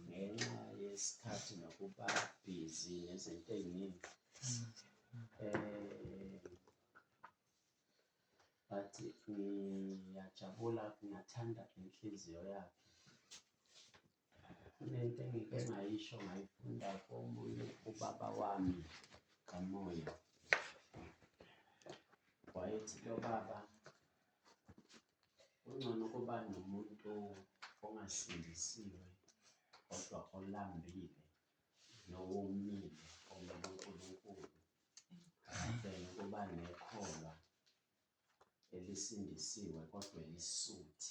ngenxa yesikhathi nokuba busy nezinto ey'ningi um but ngiyajabula ngathanda inhliziyo yakhe kunento engike ngayisho ngayifunda komunye ubaba wami kamoya wayethi lo baba Kungcono ukuba nomuntu ongasindisiwe kodwa olambile nowomile ongokuNkulunkulu than ukuba nekholwa elisindisiwe kodwa elisuthi.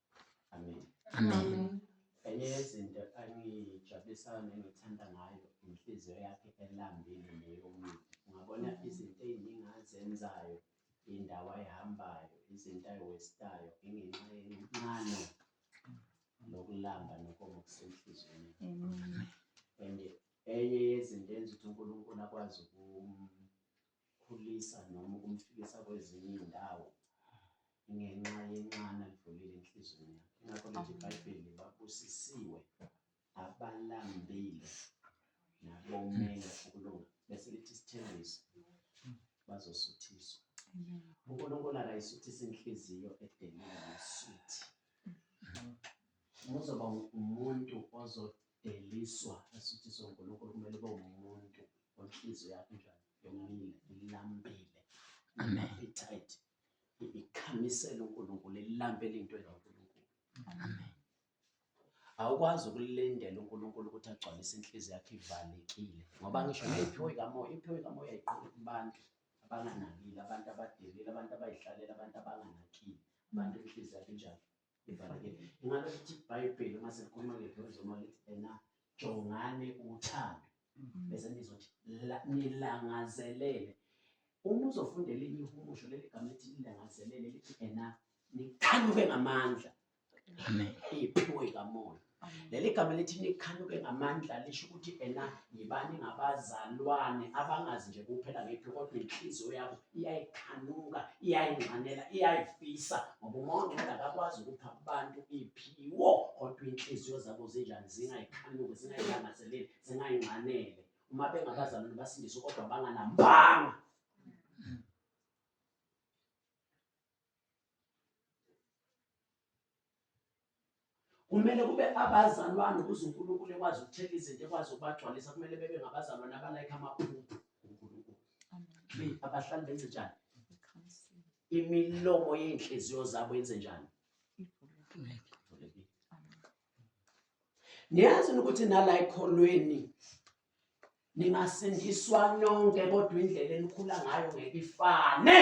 Amen. Amen. Enye yezinto angijabulisayo nengithanda ngayo inhliziyo yakhe elambile neyomuntu. Ungabona izinto ey'ningi azenzayo, indawo ayihambayo, izinto ayiwestayo, ingenxa yencano nokulamba nokomo kusenhliziyweni. And enye yezinto enza ukuthi uNkulunkulu akwazi ukum- ukumkhulisa noma ukumfikisa kwezinye izindawo ngenxa yenxana lidlulile enhlizweni yakhe ingakho lithi ibhayibheli babusisiwe abalambile nabomele ukulunga bese lithi isithembiso bazosuthiswa unkulunkulu akayisuthisa inhliziyo edelile nosuthi uzoba umuntu Deliswa esithi soNkulunkulu kumele ube umuntu onhliziyo yakho njani yomile ilambile amen appetite ikhamisela uNkulunkulu ilambele into enoNkulunkulu amen awukwazi ukulindela uNkulunkulu ukuthi agcwalise inhliziyo yakhe ivalekile ngoba ngisho nayiphiwe kamoya iphiwe kamoya iqoqa kubantu abanganakile abantu abadelile abantu abayihlalele abantu abanganakile abantu inhliziyo yabo injalo livalekile ingabe futhi ibhayibheli uma selikhuluma ngedlozoma lithi ena jongane uthando mm-hmm. bese nizothi nilangazelele uma uzofunda elinye ihumusho leli gama lithi lilangazelele lithi ena niqhanuke ngamandla iphiwe kamoya Leli gama elithi nikhanuke ngamandla lisho ukuthi ena yibani ngabazalwane abangazi nje kuphela ngephi kodwa inhliziyo yabo iyayikhanuka iyayingxanela iyayifisa ngoba uma ungcwele akakwazi ukupha abantu iphiwo kodwa inhliziyo zabo zinjani zingayikhanuki zingayilangazeleli zingayingxanele uma bengabazalwane basindiswe kodwa banganambanga kumele kube abazalwane ukuze uNkulunkulu ekwazi ukuthetha izinto ekwazi ukubagcwalisa kumele bebe ngabazalwane abalayikha amaphupho uNkulunkulu be abahlali benze njani imilomo yey'nhliziyo zabo yenze njani niyazini ukuthi nala ekholweni ningasindiswa nonke kodwa indlela enikhula ngayo ngeke ifane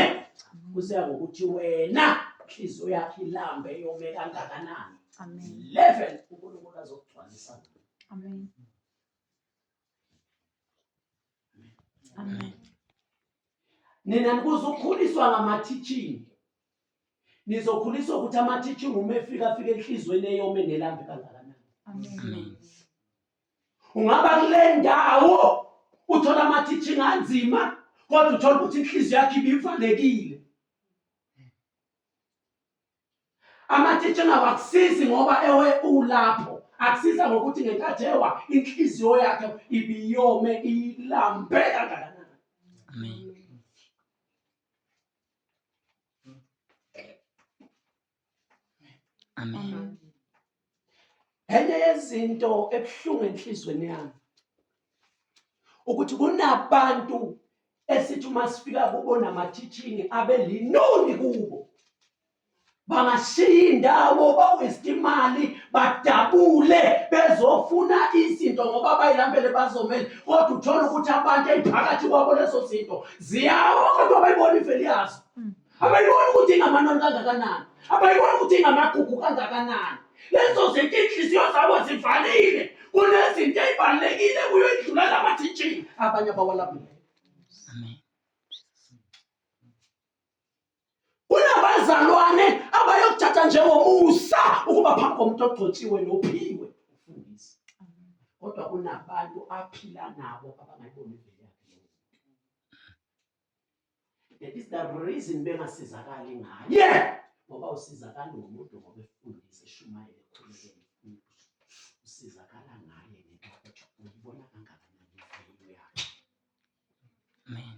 kuseya ngokuthi wena inhliziyo yakhe ilambe yome kangakanani amen 11 uNkulunkulu azokugcwalisa amen amen nina nikuzokhuliswa ngama-teaching nizokhuliswa ukuthi ama-teaching uma efika afika enhliziyweni eyome nelambe kangakanani amen ungaba kule ndawo uthola ama-teaching anzima kodwa uthola ukuthi inhliziyo yakhe ibivalekile ama-teaching awakusizi ngoba ewe ulapho akusiza ngokuthi ngenkathi ewa inhliziyo yakhe ibiyome ilambe kangakanani Amen. Enye yezinto ebuhlungu enhlizweni yami ukuthi kunabantu esithi uma sifika kubo namathithingi abelinoni kubo bangashiya indawo baweste imali badabule bezofuna izinto ngoba bayilambele bazomele kodwa uthole ukuthi abantu eziphakathi kwabo lezo zinto ziyawa kodwa bayibona iveli yazo abayibona ukuthi ingamanoni kangakanani abayibona ukuthi ingamagugu kangakanani lezo zinto iy'nhliziyo zabo zivalile kunezinto ey'balulekile kuyo idlula lamathitshini abanye abawalabile kunabazalwane abayokuthatha njengomusa ukuba phambi komuntu ogcotshiwe nophiwe ufundisi kodwa kunabantu aphila nabo abangayiboni That is the reason bengasizakali ngaye. Yeah! Ngoba usizakala umuntu ngoba efundisa eshumayela ekhulekela umuntu. Usizakala ngaye ngenxa yokuthi uyibona kangakanani imfanelo yakhe. Amen.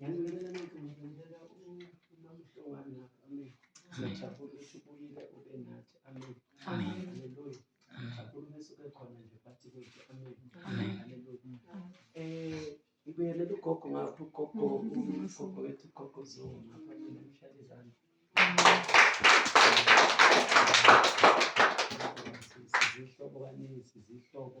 Ngiyacela ngikumfundela uMamhlongana. Amen. Ngiyajabula ukuthi ubuyile ube nathi. Amen. Haleluya. Ngiyajabula uma suke khona nje phakathi kwethu. Amen. Haleluya. Eh ngibuyelele ugogo ngapha ugogo ugogo wethu ugogo Zulu ngapha mina ngishaya izandla. Sizihlobo kaningi sizihlobo.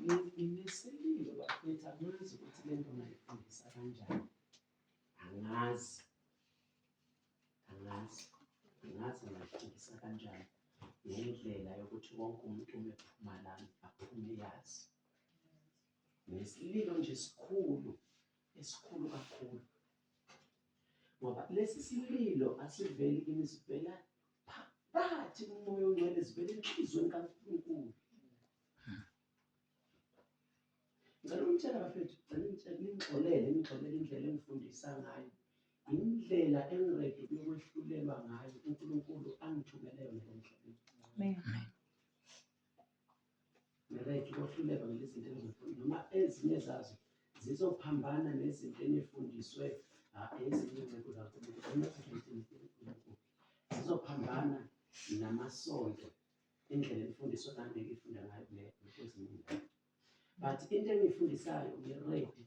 Ngineselile bafethu angazi ukuthi le nto ngayifundisa kanjani angazi angazi angazi ngayifundisa kanjani ngendlela yokuthi wonke umuntu uma ephuma lami aphume yazi nesililo nje sikhulu esikhulu kakhulu ngoba lesi sililo asiveli kimi sivela phakathi kumoya ongcwele sivela enhliziyweni kaNkulunkulu Ngicela umtshela bafethu, ngicela umtshela ningixolele, ningixolele indlela engifundisa ngayo. Indlela engiredi ukwehlulelwa ngayo uNkulunkulu angithumele yona emhlabeni. Amen. Ngiredi ukwehlulelwa ngalezi zinto engizifundile noma ezinye zazo zizophambana nezinto enifundiswe ah, ezinye ingcebo zaNkulunkulu. Noma ezinye izinto uNkulunkulu. Zizophambana namasonto indlela imfundiso nami ngifunda ngayo kule kweziningi but into engiyifundisayo ngiready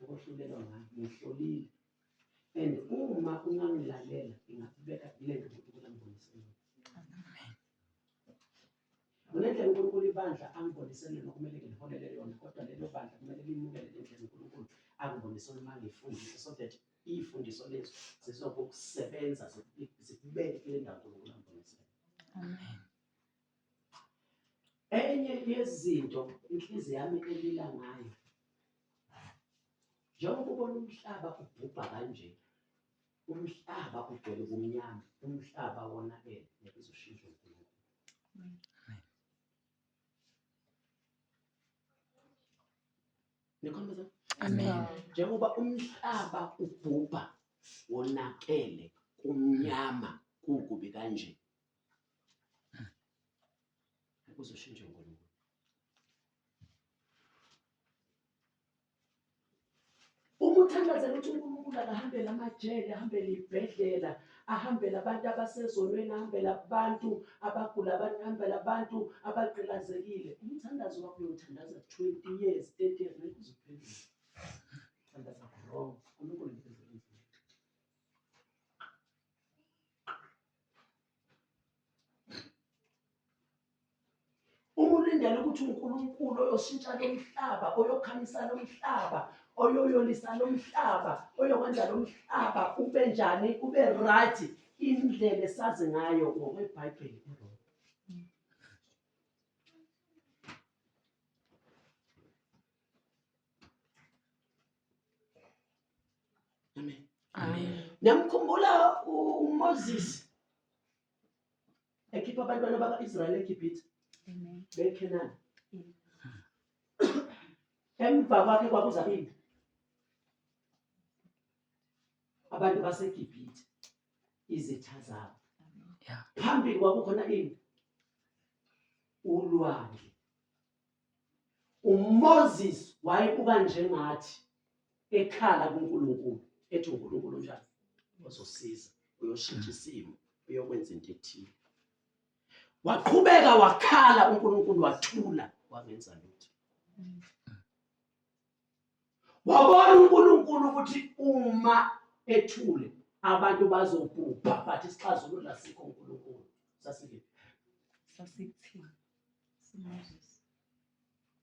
ukuhlulelwa ngayo ngihlolile and uma ungangilalela ngingakubeka kule nto uNkulunkulu angiboniselwe kunendlela uNkulunkulu ibandla angiboniselwe nokumele ngiliholele yona kodwa lelo bandla kumele limukele le ndlela uNkulunkulu angibonise uma ngiyifundise so that iy'fundiso lezi zizokusebenza zikubeke kule ndawo uNkulunkulu ambonise Amen. enye yezinto inhliziyo yami elila ngayo njengoba ubona umhlaba ubhubha kanje umhlaba ugcwele ubumnyama umhlaba wonakele ngeke uzoshintsha uNkulunkulu Nikhombisa. Amen. Njengoba umhlaba ubhubha wonakele kumnyama kukubi kanje. Uzoshintsha uNkulunkulu. Uma uthandazela ukuthi uNkulunkulu akahambele amajele, ahambele ibhedlela, ahambele abantu abasezonweni ahambele abantu abagula abantu ahambele abantu abagqilazekile umthandazo wakho uyothandaza 20 years 30 years ngeke uziphendule thandaza wrong uNkulunkulu ngeke uma ulindela ukuthi unkulunkulu oyoshintsha lo mhlaba oyokhamisa lo mhlaba oyoyolisa lo mhlaba oyokwenza lo mhlaba ube njani ube right indlela esazi ngayo ngokwebhayibheli Amen. Amen. Namkhumbula uMoses ekhipha abantwana baka-israyeli egibhithe bekhenani emva kwakhe kwakuza ini abantu basegibhithe izitha zabo phambili kwakukhona ini ulwandle uMoses wayebuka njengathi ekhala kuNkulunkulu ethi uNkulunkulu njani uzosiza uyoshintsha isimo uyokwenza into ethile waqhubeka wakhala uNkulunkulu wathula wangenza lutho wabona uNkulunkulu ukuthi uma ethule abantu bazobhubha but isixazululo asikho uNkulunkulu sasike sasikuthini siMoses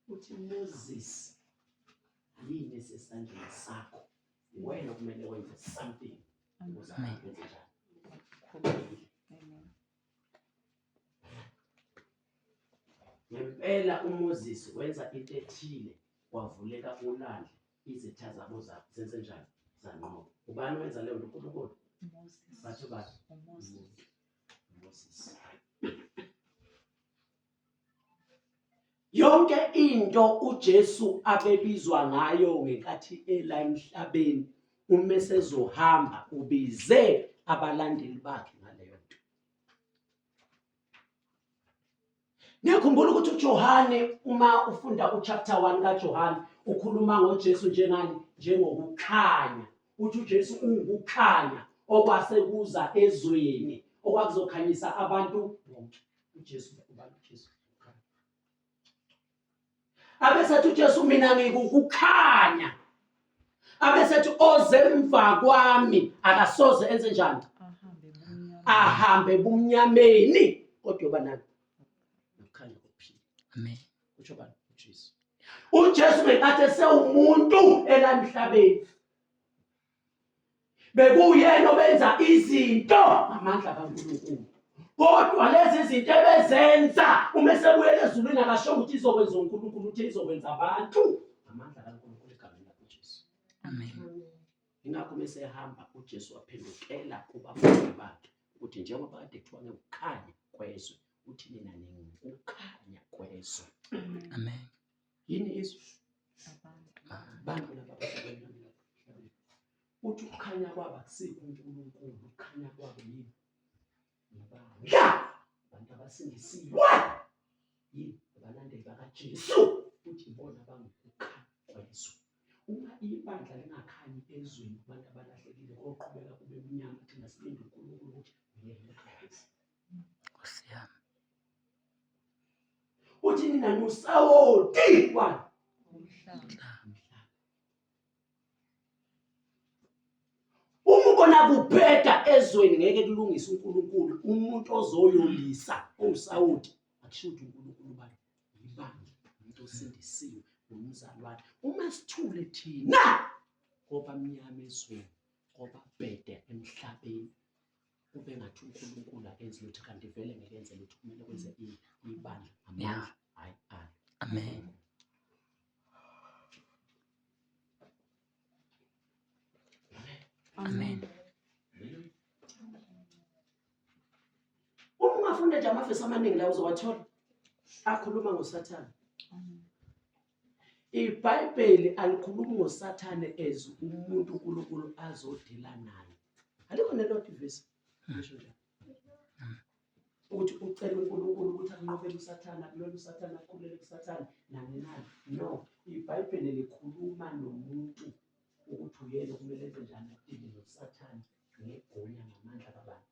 uthi Moses yini sesandleni sakho wena kumele wenze something ukuze abantu benze njani Ngempela uMoses wenza into ethile kwavuleka ulwandle izitha zabo za- zenze njani zanqoba ubani wenza leyo nto unkulunkulu Moses. bathi ubani Moses. Moses. Yonke into uJesu abebizwa ngayo ngenkathi ela emhlabeni uma sezohamba ubize abalandeli bakhe ngaleyo nto. Ngiyakhumbula ukuthi uJohane uma ufunda uchapter 1 kaJohane ukhuluma ngoJesu njengani njengokukhanya uthi uJesu ungukukhanya okwase kuza ezweni okwakuzokhanyisa abantu bonke uJesu ubani uJesu abesethi uJesu mina ngikukukhanya abesethi ozemva kwami akasoze enze njani ahambe bumnyameni kodwa yoba nani nokukhanya kokuphila amen kusho bani uJesu uJesu ngenkathi esewumuntu elamhlabeni bekuyena obenza izinto ngamandla kaNkulunkulu kodwa lezi zinto ebezenza uma esebuyela ezulwini akasho ukuthi izokwenza uNkulunkulu uthi izokwenza abantu ngamandla kaNkulunkulu egameni lakaJesu amen ingakho mesehamba uJesu waphendukela kubafundi bakhe ukuthi njengoba kade kuthiwa ngekukhanya kwezwe uthi nina ningukukhanya kwezwe amen yini izwe abantu laba bahlabeni nami lapha emhlabeni uthi ukukhanya kwabo akusikho uNkulunkulu ukukhanya kwabo yini ngabantu ya abantu abasindisiwe yini abalandeli bakaJesu futhi ibona abangukukhanya kwezwe uma ibandla lingakhanyi ezweni kubantu abalahlekile koqhubeka kube mnyama thina silinde uNkulunkulu ukuthi uyena uKristu Nkosi yami. Uthi mina ngusawoti wani? Uma ubona kubheda ezweni ngeke kulungise uNkulunkulu umuntu ozoyolisa owusawoti akusho ukuthi uNkulunkulu ubani yibani umuntu osindisiwe nomzalwane uma sithule thina ngoba mnyama ezweni ngoba bhede emhlabeni kube ngathi uNkulunkulu akenzi lutho kanti vele ngeke enze lutho kumele kwenze ibandla amandla hayi alo amen amen uma ungafunda nje amavesi amaningi la uzowathola akhuluma ngosathane IBhayibheli alikhulumi ngoSathane as umuntu uNkulunkulu azodila naye. Alikho nelodwa ivesi ngisho nje. Ukuthi ucela uNkulunkulu ukuthi anqobele uSathane, akulele uSathane, akhulele kuSathane nani nani. No, iBhayibheli likhuluma nomuntu ukuthi uyena okumele enze njani adile noSathane ngegunya ngamandla kaBani.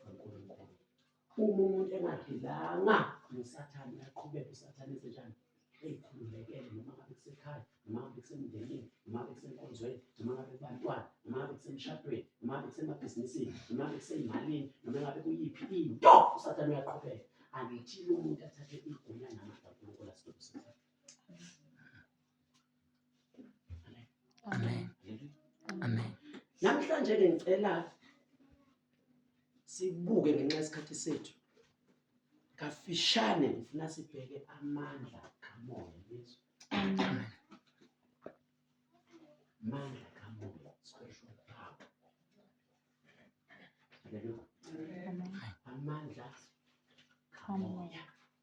uNkulunkulu uma umuntu engadilanga nosathane aqhubeke usathane ezenjani eyikhululekele noma ngabe kusekhaya noma ngabe kusemndenini noma ngabe kusenkonzweni noma ngabe kubantwana noma ngabe kusemshadweni noma ngabe kusemabhizinisini noma ngabe kuseyimalini noma ngabe kuyiphi into usathane uyaqhubeka angithile umuntu athathe igunya namandla unkulunkulu asiqinisekile Amen. Amen. Namhlanje ke ngicela sibuke ngenxa yesikhathi sethu. Kafishane ngifuna sibheke amandla kamoya Yesu. Amen. Amandla kamoya special power. Hallelujah. Amandla kamoya.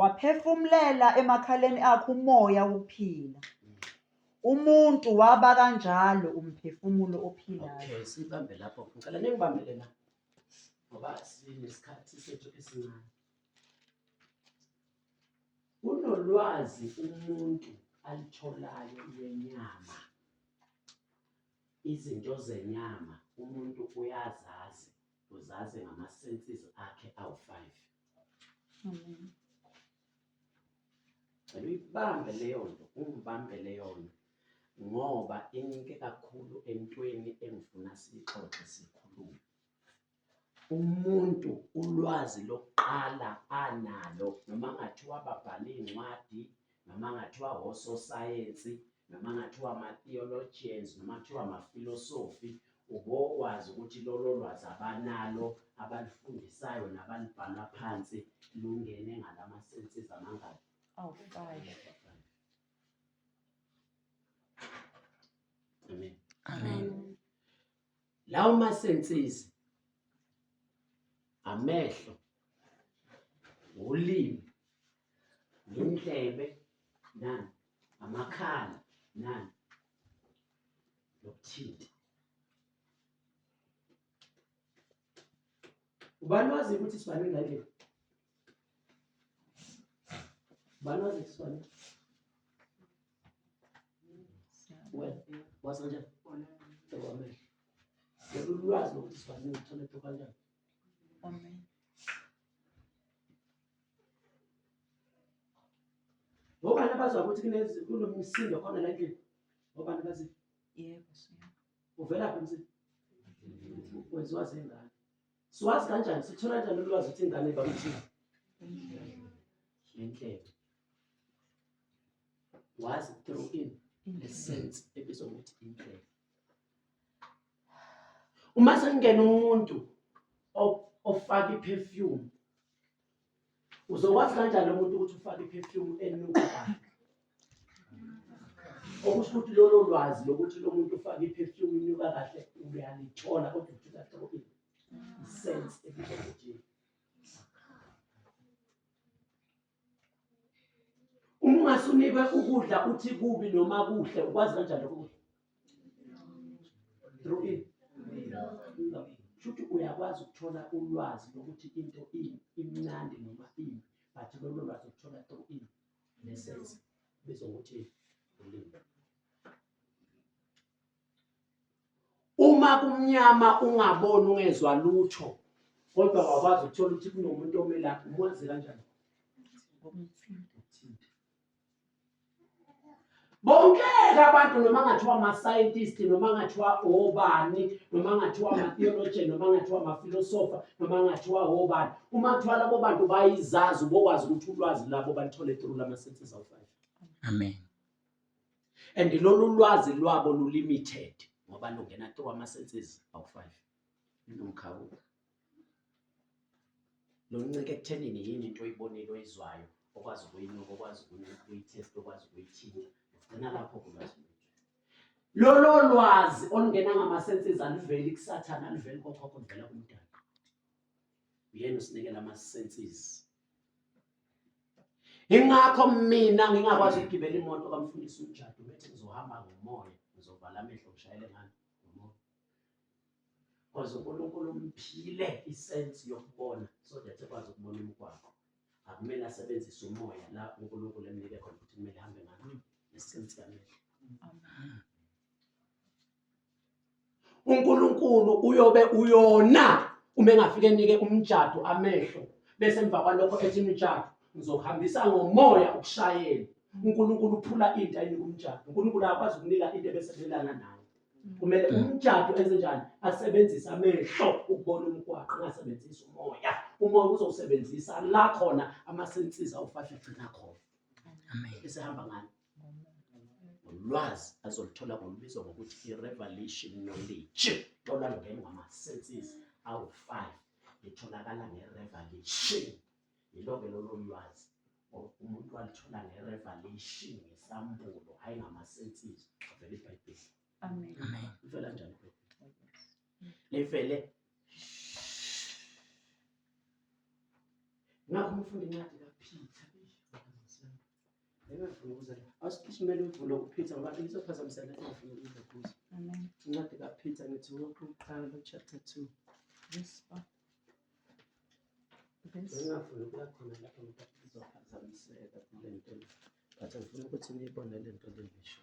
waphefumulela emakhaleni akhe umoya wokuphila umuntu waba kanjalo umphefumulo ophilayo okay sibambe lapho ngicela ningibambele la ngoba sinesikhathi sethu esincane kunolwazi umuntu alitholayo lwenyama izinto zenyama umuntu uyazazi uzazi ngama-senses akhe awu-five Amen. Cela uyibambe leyo nto, ungibambe leyo nto ngoba inike kakhulu entweni engifuna siyixoxe sikhulume. Umuntu ulwazi lokuqala analo noma ngathi wababhala iy'ncwadi noma ngathiwa ososayensi noma ngathiwa ama-theologians noma kuthiwa amafilosofi ubokwazi ukuthi lolo lwazi abanalo abalifundisayo nabalibhala phansi lungene ngalama-senses amangaki awu-five amen amen lawo ma-senses amehlo ulimi yindlebe nani amakhala nani nokuthinta ubani wazi ukuthi sibani ngale ubani wazi ukuthi sibani well wazi kanjani ekwamehlo lolu lwazi lokuthi sibani ngithole to kanjani Ngobani abazwa ukuthi kunezi kunomsindo khona la endlini? Ngobani bazi? Yebo, siyabo. Uvela phi umsindo? Wenziwa zingane. Siwazi kanjani? Sithola kanjani ulwazi ukuthi ingane iba umsindo? Ngendlela. Wazi through in the sense ebizwa ukuthi indlela. uma sekungena umuntu ofaka i-perfume uzokwazi kanjani lo muntu ukuthi ufake i-perfume enuka kabi okusho ukuthi lolo lwazi lokuthi lo muntu ufake i-perfume inuka kahle uyalithola kodwa ukuthi kahle kokini isense ebizwa ngokuthi Uma ungasunikwe ukudla uthi kubi noma kuhle ukwazi kanjani lokho? Through in. Shuthi uyakwazi ukuthola ulwazi lokuthi into ini imnandi noma ini but lolo lwazi ukuthola through in nesense bezongokuthi ulimi. Uma kumnyama ungaboni ungezwa lutho kodwa wakwazi ukuthola ukuthi kunomuntu omelaphi umwazi kanjani? Bonkeke abantu noma ngathiwa ama-scientist noma ngathiwa obani noma ngathiwa ama-theologian noma ngathiwa amafilosofa noma ngathiwa obani uma kuthiwa labo bantu bayizazi ubokwazi ukuthi ulwazi labo balithole through lama-senses of life. Amen. and lolu lwazi lwabo lulimited ngoba lungena through ama-senses awu-five nomkhawulo loncike ekuthenini yini into oyibonile oyizwayo okwazi ukuyinuka okwazi ukuyithesta okwazi ukuyithinta ugcina lapho kulwazi lolo lwazi olungena ngama-senses aluveli kusathane aluveli kokhokho luvela kumdala uyena usinikela ama-senses ingakho mina ngingakwazi ukugibela imoto kamfundisi umjado bethi ngizohamba ngomoya ngizovala amehlo ngishayele ngani ngomoya kwaze unkulunkulu umphile isensi yokubona so that ekwazi ukubona umgwaqo akumele asebenzise umoya la unkulunkulu emnike khona ukuthi kumele hambe ngani nesiqiniseko amehlo uNkulunkulu uyobe uyona uma engafike enike umjado amehlo bese emva kwalokho ethi imijado ngizohambisa ngomoya ukushayela uNkulunkulu uphula into ayinika umjado uNkulunkulu akwazi ukunika into ebesebenzelana nayo kumele mm. umjado enzenjani asebenzise amehlo ukubona umgwaqo angasebenzisi umoya umoya uzowusebenzisa la khona amasensiza ufahle gcina khona amen esihamba ngani ngolwazi azoluthola ngolubizwa ngokuthi i-revelation knowledge tolwa lungene ngama-senses awu-five litholakala nge-revelation yilo-ke lolo lwazi umuntu walithola nge-revelation ngesambulo hhayi ngama-senses avela ibhayibheli livela njani livele ngakho umfunda incwadi kaphitha Engafuni ukuza la. Awusiphishimele uvulo uPeter ngoba izophazamisa lento engafuni ukuza kuzo. Amen. Incwadi kaPeter ngithi wonke uqala chapter 2. Yes, Papa. Yes. Engafuni ukuya khona lapho ngoba izophazamiseka kule nto. But ngifuna ukuthi niyibone le nto le ngisho.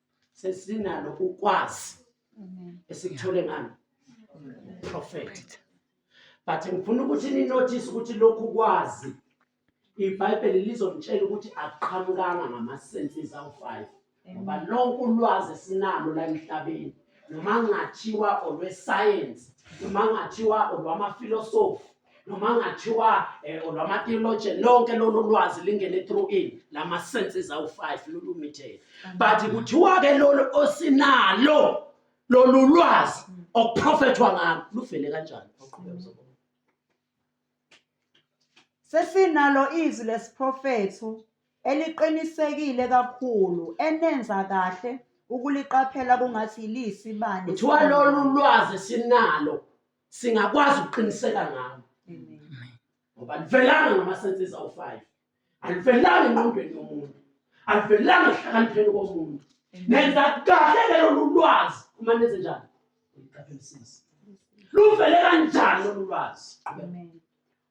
sesinalo ukwazi esikuthole ngani prophet but ngifuna ukuthi ninotice ukuthi lokhu kwazi ibhayibheli lizomtshela ukuthi akuqhamukanga ngamasenses awu-five ngoba lonke ulwazi esinalo la emhlabeni noma ngathiwa olwesayensi noma ngathiwa olwamafilosofi noma ngathiwa eh, lwama theologian lonke lolu lwazi lingene through in lama senses awu 5 lolu mitheni but kuthiwa ke lolu osinalo lolu lwazi mm. okuprofethwa ngalo luvele kanjani awuqhubeke mzobona sesinalo izwi lesiprofetho eliqinisekile kakhulu enenza kahle ukuliqaphela kungathi yilisi bani kuthiwa lolu lwazi sinalo singakwazi ukuqiniseka ngalo ngoba livelanga ngamasenses awu-five alivelanga engqondweni yomuntu alivelanga ehlakanipheni komuntu nenza kahle ke lolu lwazi uma nenze njani uyiqaphelisise luvele kanjani lolu lwazi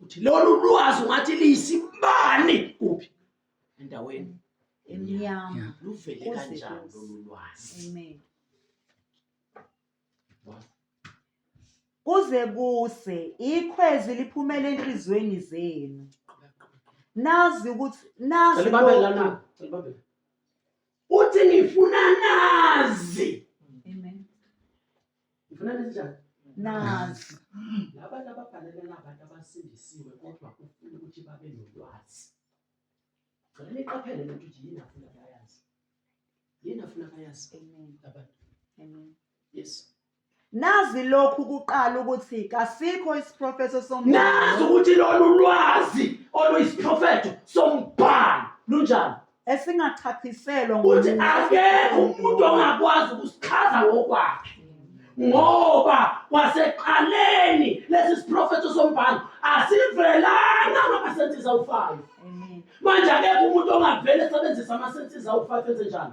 uthi lolu lwazi ungathi liyisibani kuphi endaweni emnyama luvele kanjani lolu lwazi amen kuze kuse ikhwezi liphumele enhlizweni zenu nazi ukuthi nazi uthi ngifuna nazi Ngifuna njani? Nazi. Labantu ababhalela labantu abasindisiwe kodwa ufuna ukuthi babe nolwazi. Ngicela niqaphele lento ukuthi yini afuna bayazi. Yini afuna bayazi. Amen. Labantu. Amen. Yes. Nazi lokhu kuqala ukuthi kasikho isiprofeto sombhalo. Nazi ukuthi lolu lwazi oluyisiprofeto sombhalo lunjani? esingachaphiselwa ukuthi akekho umuntu ongakwazi ukusichaza ngokwakhe ngoba kwaseqaleni lesi siprofetho sombhalo asivelanga ngamasensiza ufayo manje akekho umuntu ongavele esebenzisa amasensiza ufayo enze njani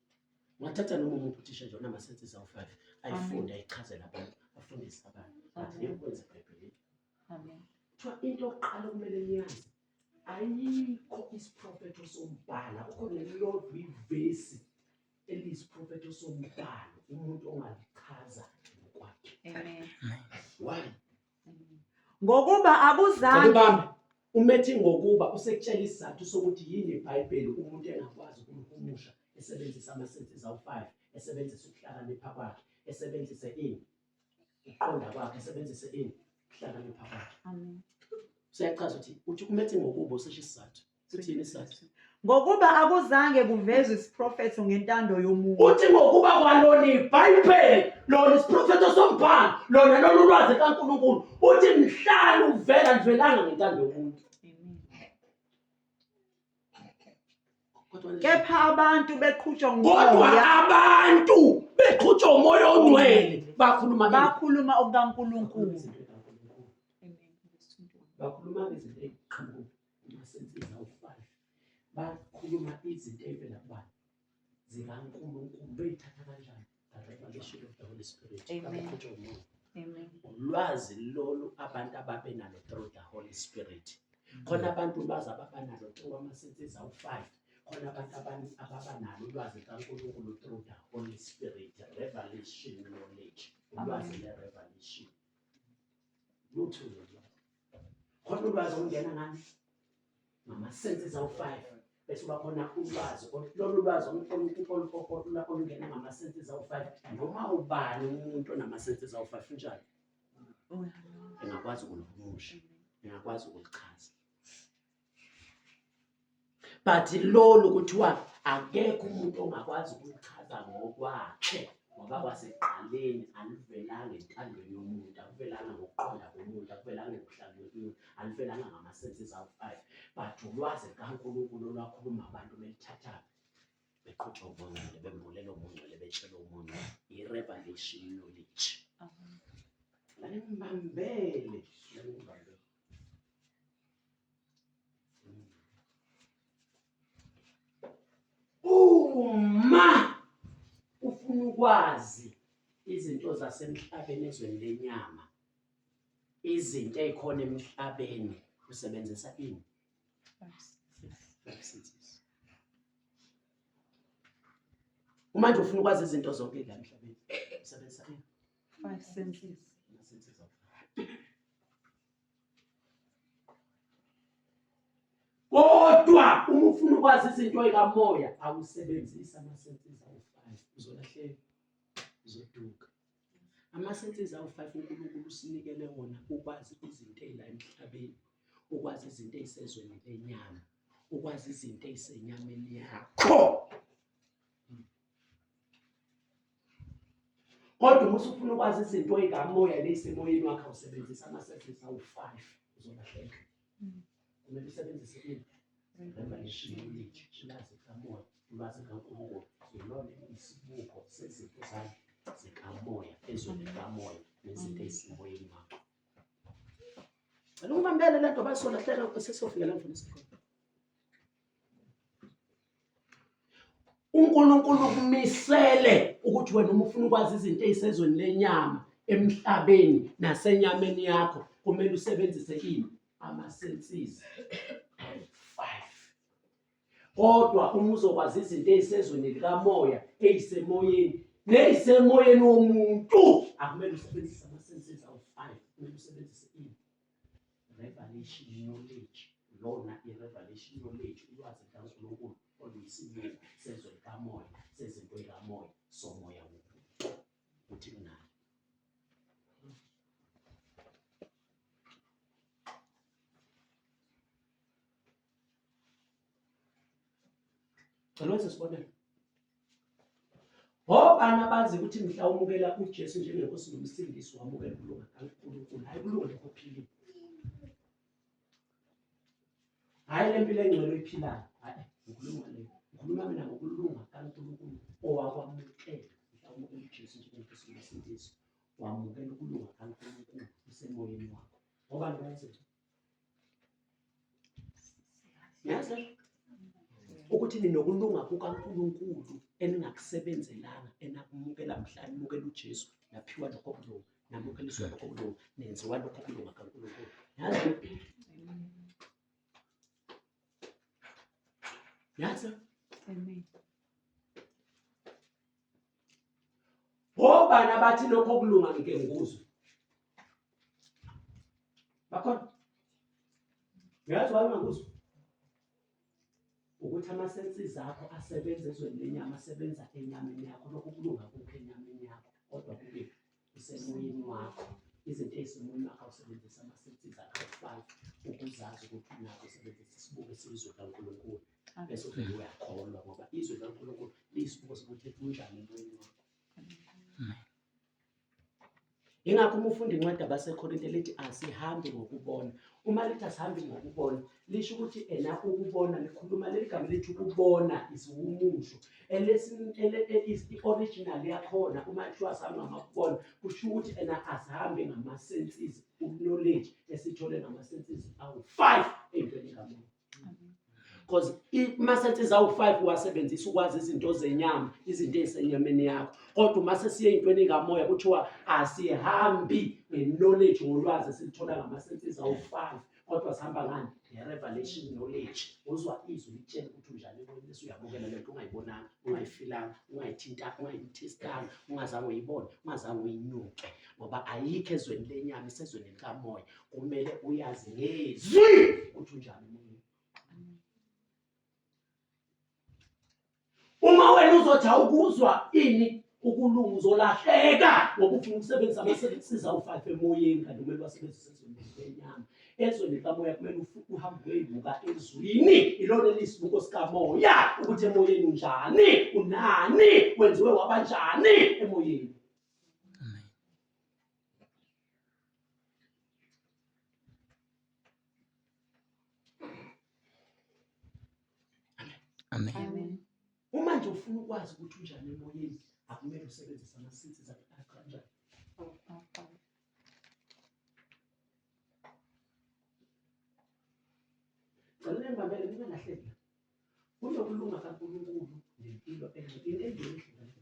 Ngathatha noma umuntu uthisha nje onamasensi ezawu-five ayifunde ayichazele abantu afundise abantu but ngekwenza ebhayibhelini kuthiwa into yokuqala okumele niyazi ayikho isiprofetho sombhala kukho nelilodwa ivesi eliyisiprofetho sombhalo umuntu ongalichaza ngokwakhe why ngokuba akuzange Bambi, umethi ngokuba usekutshela isizathu sokuthi yini iBhayibheli umuntu engakwazi ukumhumusha esebenzisa amasenses awu-5 esebenzisa ukuhlakanipha kwakhe esebenzise ini ukuqonda kwakhe esebenzise ini ukuhlakanipha kwakhe Amen. siyachaza ukuthi uthi umethi ngokuba usesho isizathu Sithini isizathu? ngokuba akuzange kuvezwe isiprofetho ngentando yomuntu Uthi ngokuba kwalona iBhayibheli lona isiprofetho sombhalo lona lolu lwazi kaNkulunkulu uthi mhlali uvela livelanga ngentando yomuntu. Kodwa nje- kepha abantu beqhutshwa kodwa ngumoya abantu beqhutshwa umoya ongcwele bakhuluma ke- bakhuluma okukankulunkulu bakhuluma ngezinto eziqhamuka Masensiza uFazi bakhuluma izinto ey'vela kubani zikaNkulunkulu beyithatha kanjani revelation of the Holy Spirit kakukhutshwa umuntu ulwazi lolu abantu ababe nalo through the Holy Spirit khona abantu ulwazi ababa nalo through amasensiza uFazi khona abantu abani ababa nalo ulwazi kaNkulunkulu through the Holy Spirit revelation knowledge ulwazi le revelation lutho lolwazi khona ulwazi olungena ngani ngamasensi zawu-five bese uba khona ulwazi lolu lwazi olungena ngamasensi zawu-five noma ubani umuntu onamasensi zawu-five unjani engakwazi ukuluhumusha engakwazi ukulichaza but lolu kuthiwa akekho umuntu ongakwazi ukulichaza ngokwakhe ngoba kwasekuqaleni alivelanga entandweni yomuntu akuvelanga ngokuqonda komuntu akuvelanga ekuhlangeni yomuntu alivelanga ngama-senses awu five but ulwazi likankulunkulu olwakhuluma abantu belithathaphi beqhutha ubungcwele bembulela ubungcwele betshela umuntu i-revelation knowledge lalimbambele lalimbambele uma ufuna ukwazi izinto zasemhlabeni ezweni lenyama izinto ezikhona emhlabeni usebenzisa ini uma nje ufuna ukwazi izinto zonke la emhlabeni usebenzisa ini Five senses. Kodwa uma ufuna ukwazi izinto ezikamoya awusebenzisa amasenses awu-five uzolahleka uzoduka. Amasenses awu-five uNkulunkulu usinikele wona ukwazi izinto ezila emhlabeni, ukwazi izinto ezisezweni lenyama, ukwazi izinto ezisenyameni yakho. kodwa uma usufuna ukwazi izinto ey'kamoya ney'semoyeni wakhe awusebenzisa amasevisi awu-five uzolahleka kumele usebenzise ini revelation knowledge ulwazi likamoya ulwazi likankulunkulu yilona isibuko sezinto zakhe zikamoya ezweni likamoya nezinto ey'semoyeni wakho cela ukubambele le nto basolahleka sesiyofika la mfundisi khona UNkulunkulu ukumisele ukuthi wena uma ufuna ukwazi izinto ey'sezweni lenyama emhlabeni nasenyameni yakho kumele usebenzise ini ama-senses five kodwa uma uzokwazi izinto ey'sezweni likamoya ey'semoyeni ney'semoyeni womuntu akumele usebenzise ama-senses awu-five kumele usebenzise ini Revelation knowledge lona i-revelation knowledge ulwazi lukaNkulunkulu oluyisibili sezwe likamoya sezinto zikamoya somoya wobuntu ukuthi kunani Cela wenze isibonelo. Ngobani abazi ukuthi mhla umukela uJesu njengenkosi nomsindisi wamukela ukulunga kaNkulunkulu, hayi kulunga lokho philile. Hayi le mpilo engcwele oyiphilayo, hayi ngikhuluma le. Ngikhuluma mina ngokulunga kaNkulunkulu owakwamukela mhla umukela uJesu njengenkosi nomsindisi wamukela ukulunga kaNkulunkulu usemoyeni wakho. Ngobani abazi yazi ukuthi ninokulunga kukaNkulunkulu eningakusebenzelanga enakumukela mhla nimukela uJesu naphiwa lokho kulunga namukeliswa lokho kulunga nenziwa lokho kulunga kaNkulunkulu yazi yazi ngobani abathi lokho kulunga ngike ngikuzwe bakhona ngiyazi wani ngakuzwa ukuthi ama-senses akho asebenza ezweni lenyama asebenza enyameni yakho lokhu kulunga kukho enyameni yakho kodwa kukephi usemoyeni wakho izinto ezisemoyeni wakho awusebenzisa amasensiza akufaki ukuzazi ukuthi unako usebenzisa isibuko esiyizwe likankulunkulu bese uvele uyakholwa ngoba izwe likankulunkulu liyisibuko sokuthi kunjani emoyeni wakho yingakho uma ufunda incwadi abasekorinte lithi asihambi ngokubona uma lithi asihambi ngokubona lisho ukuthi ena ukubona likhuluma leli gama lithi ukubona isiwumusho i-original yakhona uma kuthiwa azange amakubona kusho ukuthi ena azihambe ngama-senses uknowledge esithole ngama-senses awu-five eyintweni kamuntu because uma sethi zawu-five uwasebenzisa ukwazi izinto zenyama izinto ey'senyameni yakho kodwa uma sesiye ey'ntweni kamoya kuthiwa asihambi nge-knowledge ngolwazi esilithola ngama-senses awu-five kodwa sihamba ngani nge-revelation knowledge uzwa izwi litshela ukuthi unjani emoyeni bese uyabukela le nto ungayibonanga ungayifilanga ungayithintanga ungayithestanga ungazange uyibone ungazange uyinyuke ngoba ayikho ezweni lenyama isezweni likamoya kumele uyazi ngezwi ukuthi unjani Uma wena uzothi awukuzwa ini ukulunga uzolahleka ngoba ufuna ukusebenzisa amasebenzisiza ufafe emoyeni kanti kumele basebenzise ezweni lenyama ezweni likamoya kumele uhambe uyoyibuka ezwini ilona elisibuko sikamoya ukuthi emoyeni unjani unani wenziwe wabanjani emoyeni Amen. Uma nje ufuna ukwazi ukuthi unjani emoyeni, akumele usebenzise amasithi zakuqala. Cela ngibabele mina ngahleka. Kunokulunga kaNkulunkulu nempilo enhle. Into enhle.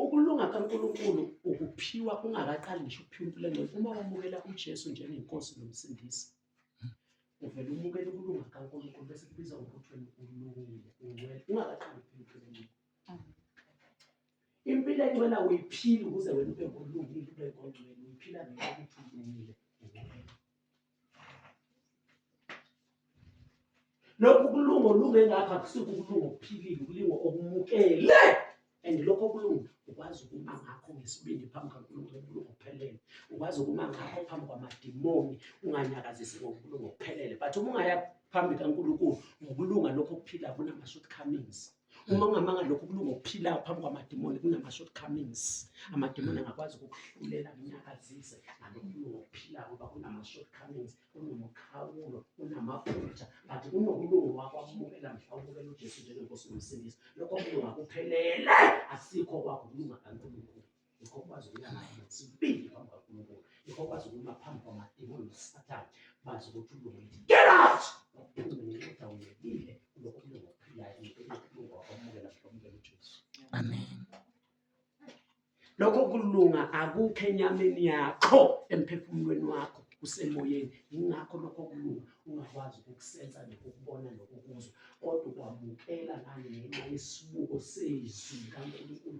Ukulunga kaNkulunkulu ukuphiwa ungakaqali ngisho ukuphiwa impilo engcwele. Uma wamukela uJesu njengenkosi nomsindisi, uvele umukele ukulunga kaNkulunkulu bese kubiza ukuthi wena ulungile, ungcwele ungakaqali ukuphiwa impilo engcwele. Impilo engcwele awuyiphili ukuze wena ube ngolungile, ube ngongcwele, uyiphila ngenxa yokuthi ulungile, ungcwele. lokhu kulungo lunge ngapha kusuke ukulunga okuphilile ukulingo okumukele and lokho kulunga ukwazi ukuma ngakho ngesibindi phambi kaNkulunkulu ukulunga okuphelele ukwazi ukuma ngakho phambi kwamadimoni unganyakazisi ngokulunga okuphelele but uma ungaya phambi kaNkulunkulu ngokulunga lokho okuphila kunama shortcomings uma ungamanga lokhu kulunga ukuphilayo phambi kwamadimoni kunama-shortcomings amadimoni angakwazi ukukuhlulela kunyakazise ngalokulunga ukuphilayo ngoba kunama-shortcomings kunomukhawulo kunamaphutha but kunokulunga wakwamukela mhla ubukela ujesu njengenkosi nomsindisi lokho kulunga kuphelele asikho kwakulunga kankulunkulu Yikho kwazi ukuya ngayo sibindi phambi kwaNkulunkulu. Yikho kwazi ukuma phambi kwamademoni noSathane bazi ukuthi ulungile. Get out! Uphume ngenxa unyekile kulokho kulunga okuphilayo kulunga wakwamukela mhlomukela uJesu. Amen. Lokho kulunga akukho enyameni yakho emphefumulweni wakho kusemoyeni yingakho lokho kulunga ungakwazi ukukusenza nokukubona nokukuzwa kodwa ukwamukela ngangenxa yesibuko sezwi likaNkulunkulu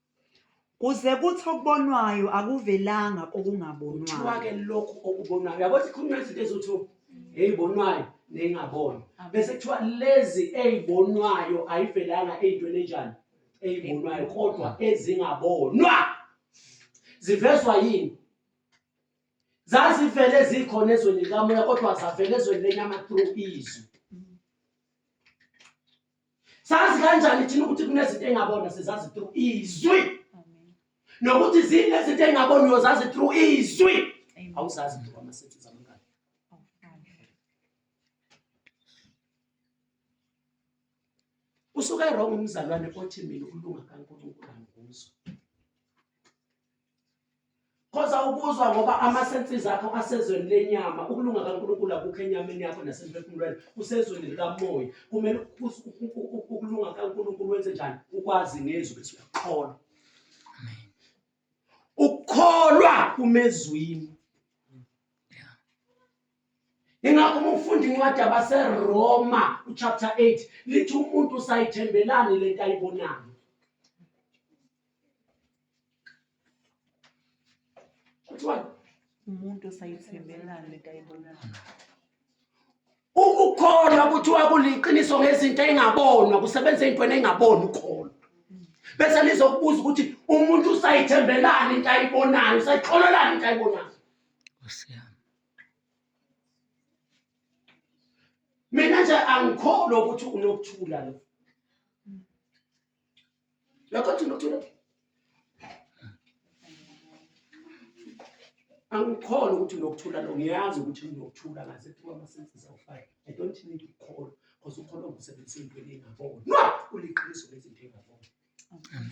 kuze kuthi okubonwayo akuvelanga kokungabonwayo kuthiwa-ke lokhu okubonwayo yabo sikhuluma izinto ezithiwa eyibonwayo neyingaboni bese kuthiwa lezi eyibonwayo ayivelanga eyintweni enjani eyibonwayo kodwa ezingabonwa zivezwa yini zazivele zikhona ezweni likamoya kodwa zavele ezweni lenyama through izwi sazi kanjani thina ukuthi kunezinto engabona sizazi through izwi nokuthi zinezinto engaboni uyozazi through izwi awuzazi nje kwamasethi zamangane usuke wrong umzalwane othi mina ulunga kaNkulunkulu angikuzwa Khoza ukuzwa ngoba ama-senses akho asezweni lenyama, ukulunga kaNkulunkulu akukho enyameni yakho nasemphefumulweni, kusezweni likamoya. Kumele ukulunga kaNkulunkulu wenze njani? Ukwazi ngezwi ukuthi uyakholwa. Ukukholwa kumezwini. Ingakho uma ufunda incwadi yabaseRoma uchapter 8 lithi umuntu usayithembelani lento ayibonayo. umuntu osayithembelani lento ayibonayo ukukholwa kuthiwa kuliqiniso ngezinto engabonwa kusebenza intweni engaboni ukholo bese lizokubuza ukuthi umuntu usayithembelani into ayibonayo usayikholelani into ayibonayo mina nje angikholwa ukuthi unokuthula lo Lokho thina uthula. Angikholwa ukuthi unokuthula lo ngiyazi ukuthi unokuthula ngaze kuba amasenses awufake. I don't need to call because ukholwa ukusebenzisa into engingaboni. No, uliqiniso lezinto engingaboni. Amen.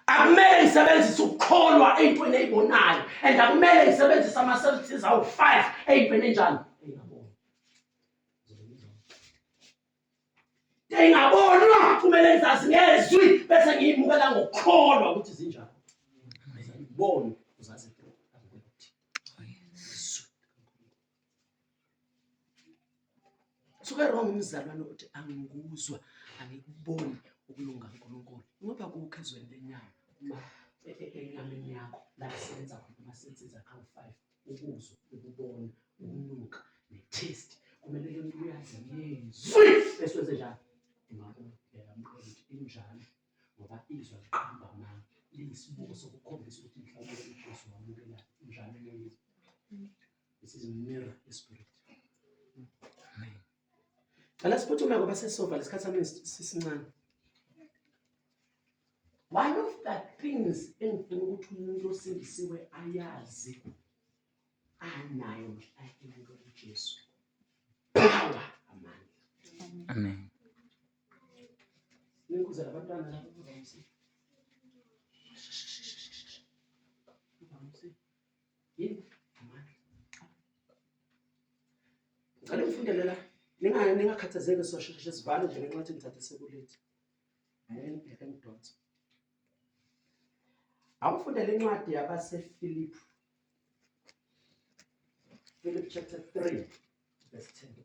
Akumele isebenzise ukukholwa eyintweni eyibonayo and akumele isebenzise ama-services awu-five eyintweni enjani Ngingabonwa kumele ngizazi ngezwi bese ngiyimukela ngokukholwa ukuthi zinjani. Ngizibone uzazi suke wrong umzalwane uthi angikuzwa angikuboni ukulunga uNkulunkulu ngoba kukho ezweni lenyama uma enyameni yakho la kusebenza khona uma sensiza kawu-five ukuzwa ukubona ukunuka ne-taste kumele ke umuntu uyazi yezwi esiwenze njani imakulu yalamqondo ukuthi injalo ngoba izwa liqamba manga liyisibuko sokukhombisa ukuthi mhlawumbe ujesu wamukela njalo leyizwi this is mirror esprit Cela siphuthume ngoba sesofa lesikhathi sami sisincane. One of the things engifuna ukuthi umuntu osindisiwe ayazi anayo mhlawumbe umuntu uJesu. Power amandla. Amen. Ninkuzela abantwana lapho kuzamsiza. ngicela ngifundele la ningakhathazeki sosheshe sivale nje ngenxa yokuthi ngithathe sekulethi ngeke ngidonse awufundele incwadi yabasefilipi Philip chapter 3, verse 10.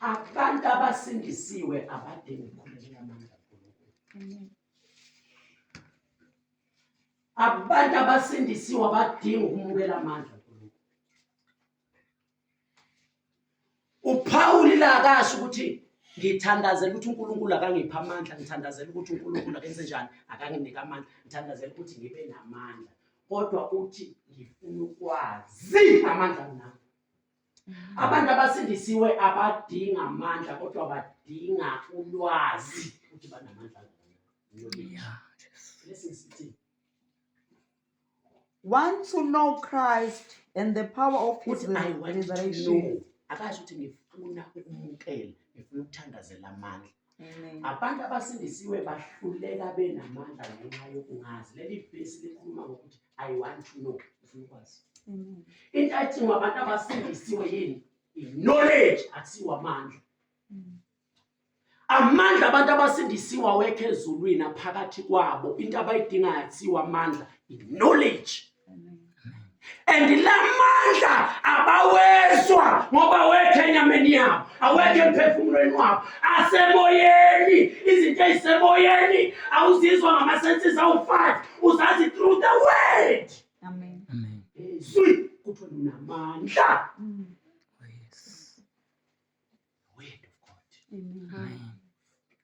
abantu abasindisiwe abadingi ukukhulekela amandla kaNkulunkulu abantu abasindisiwe abadingi ukumukela amandla kaNkulunkulu uphawuli la akasho ukuthi ngithandazela ukuthi uNkulunkulu akangipha amandla ngithandazela ukuthi uNkulunkulu akenze njani akanginike amandla ngithandazela ukuthi ngibe namandla kodwa uthi ngifuna ukwazi amandla nami abantu abasindisiwe abadinga amandla kodwa badinga ulwazi ukuthi banamandla want to know christ and the power of his resurrection akazi ukuthi ngifuna ukumukela ngifuna ukuthandazela amandla Abantu abasindisiwe bahluleka benamandla ngenxa yokungazi. Leli vesi likhuluma ngokuthi I want to know ufuna ukwazi. Into ayidingwa abantu abasindisiwe yini? I-knowledge akusiwo amandla. Mm. Amandla abantu abasindisiwe awekho ezulwini aphakathi kwabo. Into abayidingayo akusiwo amandla, i-knowledge. and la mandla abawezwa ngoba wekho enyameni yabo awekho emphefumulweni wabo asemoyeni izinto ezisemoyeni awuzizwa ngamasenses awu-five uzazi through the word izwi kuthiwa linamandla mm. Word of God. Amen.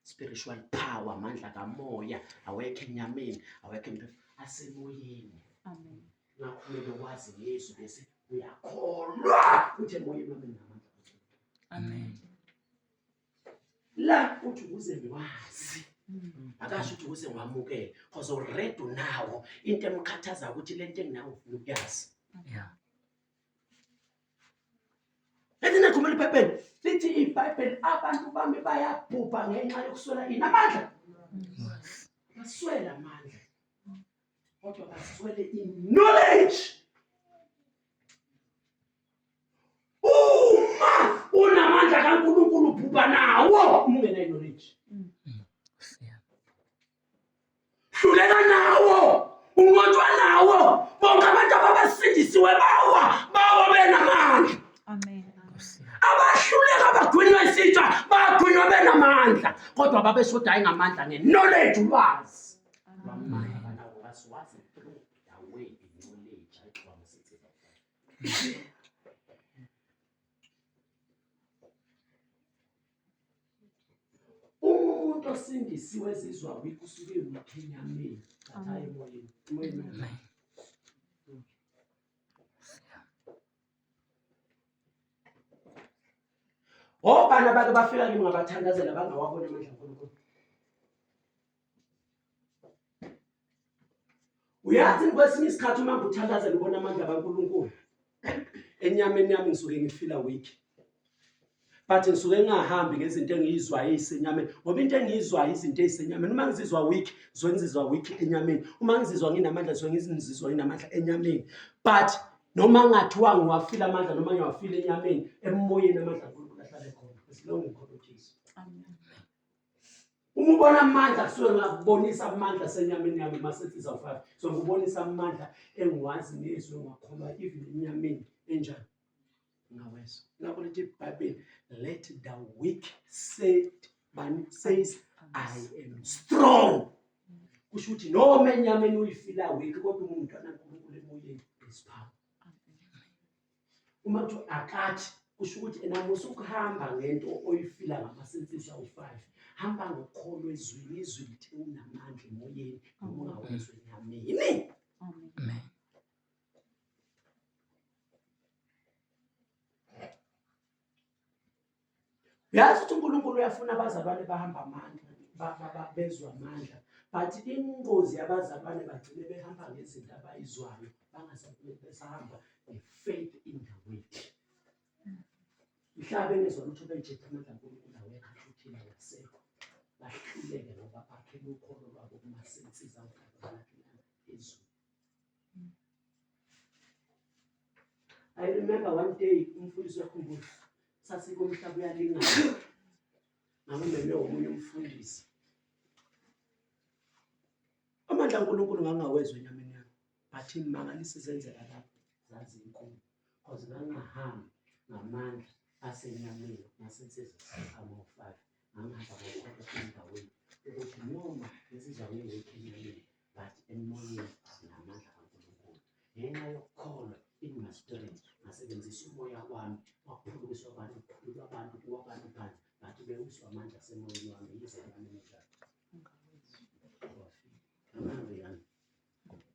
Spiritual power, amandla kamoya, awekho enyameni, awekho empilo, asemoyeni. Amen. Ngakho kumele wazi ngezwi bese uyakholwa ukuthi emoyeni wami nginamandla. Amen. La uthi ukuze ngiwazi Mm. akasho ukuthi ukuze ngiwamukele cause already unawo into emkhathaza ukuthi le nto enginawo ufuna ukuyazi Yeah. Lithini ekhumela iBhayibheli? Lithi iBhayibheli abantu bami bayabhubha ngenxa yokuswela ini amandla. Baswela amandla. Kodwa baswele i-knowledge. Uma unamandla kaNkulunkulu ubhubha nawo uma ungenayo hluleka nawo unqotshwa nawo bonke abantu ababasindisiwe bawa bawa benamandla amen abahluleka bagwinywa isitsha bagwinywa benamandla kodwa babeshodayo ngamandla nge-knowledge ulwazi umuntu osindisiwe ezizwa wikho usuke ewuthenyameni thathayo emoyeni emoyeni obani abake bafika kimi ngabathandazela bangawabona amandla nkulunkulu uyazi kwesinye isikhathi uma ngikuthandaza ngibona amandla kaNkulunkulu enyameni yami ngisuke ngifila weak but ngisuke ngingahambi ngezinto engiyizwayo ezisenyameni ngoba into engiyizwayo izinto ezisenyameni uma ngizizwa weak ngisuke ngizizwa weak enyameni uma ngizizwa nginamandla ngisuke ngizizwa nginamandla enyameni but noma ngathiwa ngiwafile amandla noma ngiwafile enyameni emoyeni amandla akhona ahlale khona as long as ngikhona uJesu Uma ubona amandla kusuke ngakubonisa amandla senyameni yami masethi zawufaka. So ngikubonisa amandla engiwazi nezwi ngakholwa even enyameni enjani. Ngawezwa. Lapho lithi iBhayibheli let the weak say bani says I am strong. Kusho ukuthi noma enyameni uyifila weak kodwa umuntu anankulunkulu emoyeni is power. uma kuthiwa akathi kusho ukuthi ena musukuhamba ngento oyifila ngamasensizi awu-five hamba ngokholo ezwini izwi lithe unamandla emoyeni noma ungawezwe nyamini uyazi ukuthi unkulunkulu uyafuna abazalwane bahamba amandla bezwa amandla but ingozi yabazalwane bagcine behamba ngezinto abayizwayo bangasahamba nge-faith in the word mhlawumbe engezwa lutho benjepha amandla nkulunkulu awekhahluthiba yasekho bahluleke ngoba bakhe lukholo lwabo kumasensiza ugabalakhe phezulu I remember one day umfundisi wakhumbuza sasike umhlaba uyalingana ngangimeme womunye umfundisi amandla uNkulunkulu ngangawezwa enyameni yami but imangalisi zenzeka lapho zazinkulu because ngangahambi ngamandla asenyameni nasensizwa amofaka ngangihamba ngokukhona endaweni ukuthi noma lezi zakwethu enyameni but emoyeni sinamandla kaNkulunkulu ngenxa yokukholwa in my spirit ngasebenzisa umoya wami waphulukiswa abantu kuphululwa abantu kuwa abantu phansi ngathi bewiswa amandla asemoyeni wami yize yami emidlalo amandla yami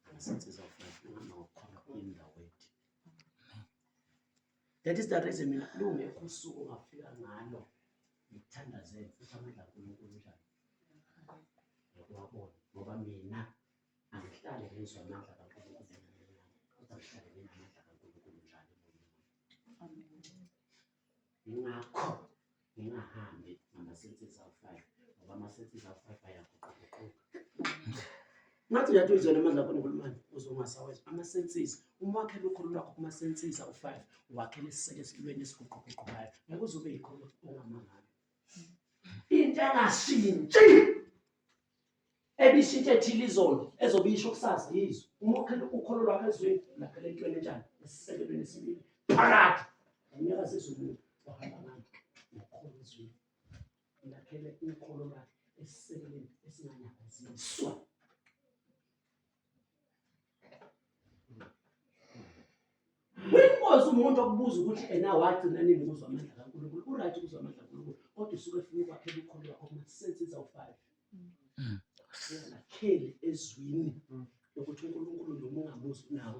angasensiza ufanele ngihamba ngokukholwa indawo ethi that is the reason mina lungekho usuku ongafika ngalo ngithandazele futhi amandla ankulunkulu njalo Ngokuwabona ngoba mina angihlale ngizwa amandla kaNkulunkulu kodwa ngihlale nginamandla kaNkulunkulu njalo emoyeni. Ngakho ngingahambi ngama-senses awu-five ngoba ama-senses awu-five ayaguquguquka. Ngathi uyathi uyizwela amandla kaNkulunkulu manje uze ungasawezwa ama-senses. Uma wakhela ukholo lwakho kuma-senses awu-five wakhela esiseke esilweni esiguquguqukayo ngeke uze ube yikholo ongamangalo. into engashintshi ebishintshe ethile izolo ezobe isho ukusazi yizwe uma ukholo lwakho ezweni laphela entweni enjani esisekelweni esibili phakathi ngonyaka sezulu ohamba ngami ngokholo ezweni laphele ukholo lwakhe esisekelweni esinganyakaziswa Winkosi umuntu okubuza ukuthi ena wagcina nini ukuzwa amandla kaNkulunkulu. Uright ukuzwa amandla kaNkulunkulu kodwa usuke efuna ukwakhela ukholo lwakho kumasense izawufaka. Singakheli ezwini lokuthi uNkulunkulu noma ungamuzwi nawo.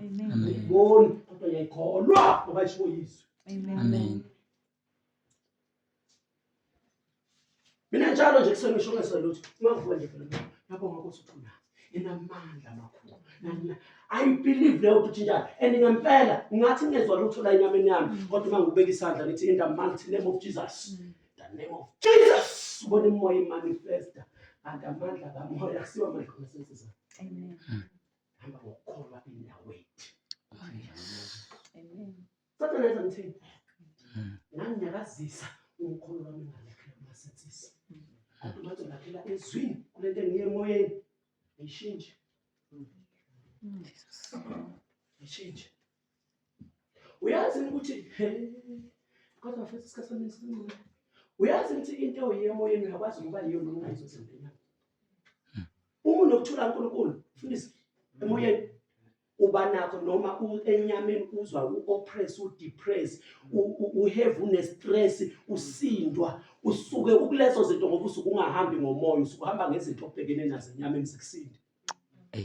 ayiboni kodwa yayikholwa ngoba ishiwo yizwi amen mina njalo nje kusengisho ngeselutho ungavuka nje phela lapho ngakuthi uthuna inamandla amakhulu I believe leyo ukuthi njalo and ngempela ngathi ngezwa lutho la enyameni yami mm. kodwa uma ngibeka isandla ngithi in the mighty name of Jesus mm. the name of Jesus ubona imoya imanifesta and amandla kamoya akusiwa amandla kasensiza amen mm. hamba ngokukholwa indawo ethu kodwa ngenza ngithini nganginyakazisa umkhulu wami ngalakhela kumasensisi kodwa umathi ulakhela ezwini kule nto engiye emoyeni ayishintshe ayishintshe uyazi ukuthi kodwa futhi isikhathi sami sincane uyazi ukuthi into yemoyeni uyakwazi ukuba yiyo noma ungayizozempilweni uma unokuthula uNkulunkulu fundisa emoyeni uba nakho noma enyameni uzwa u-oppress udepress uhave unestress usindwa usuke ukulezo zinto ngoba usuke ungahambi ngomoya usuke uhamba ngezinto obhekene nazo enyameni zikusinde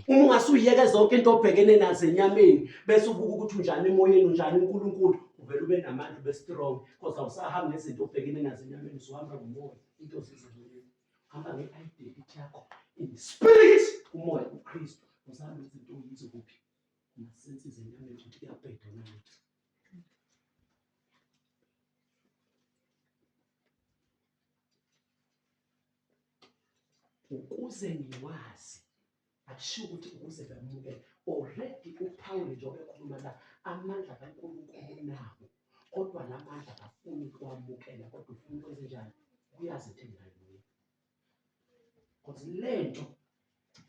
uma ungasuyiyeke zonke into obhekene nazo enyameni bese ubuka ukuthi unjani emoyeni unjani uNkulunkulu uvele ube namandla ube strong because awusahambi nezinto obhekene nazo enyameni usuhamba ngomoya into zizimile hamba nge-identity yakho in spirit umoya uKristu uzabe izinto uyizo kuphi nasensi zenyameni ukuthi kuyabheda nalutho ukuze ngiwazi akushiwo ukuthi ukuze bamukele already uphawule njengoba ekhuluma la amandla kankulunkulu nabo kodwa la mandla kafuni ukuwamukela kodwa ufuna ukwenze njani kuyazi into engingayibuya because le nto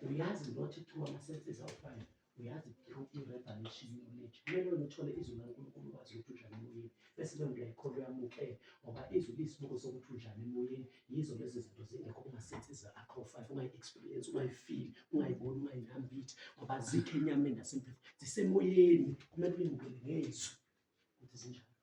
Uyazi not through amasenses awufana uyazi through i-revelation knowledge kumele wena uthole izwi likaNkulunkulu ukwazi ukuthi unjani emoyeni bese leyo nto yayikholo yamukele ngoba izwi liyisibuko sokuthi unjani emoyeni yizo lezi zinto zingekho kuma-senses akho five ungayi-experience ungayifili ungayiboni ungayinambithi ngoba zikho enyameni nasemphefo zisemoyeni kumele uyamukele ngezwi ukuthi zinjani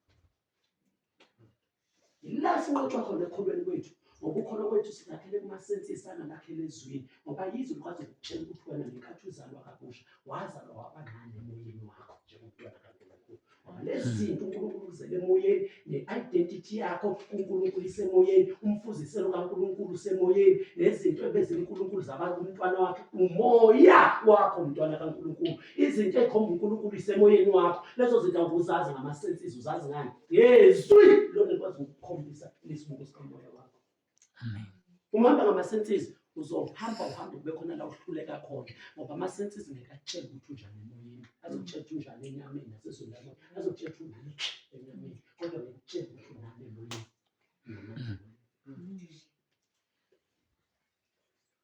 yila sinqotshwa khona ekholweni kwethu ngoba ukholo kwethu silakhele kumasensisi angalakhele ezwini ngoba yizwe likwazi ukutshela ukuthi wena ngenkathi uzalwa kabusha wazalwa wabancane emoyeni wakho njengomntwana kankulunkulu ngoba lezi zinto unkulunkulu uzele emoyeni ne-identity yakho kunkulunkulu isemoyeni umfuziselo kankulunkulu usemoyeni nezinto ebezinkulunkulu zabantu umntwana wakhe umoya wakho mntwana kankulunkulu izinto ekhomba uNkulunkulu isemoyeni wakho lezo zinto awuzazi ngama senses uzazi ngani ngezwi lona likwazi ukukhombisa lesibuko sikamoya wakho amen umhamba ngama senses uzohamba uhambe kube khona la uhluleka khona ngoba ama senses ngeke atshele ukuthi unjani emoyeni azokutshela ukuthi unjani enyameni nasezweni lakho azokutshela ukuthi unjani enyameni kodwa ngikutshela ukuthi unjani emoyeni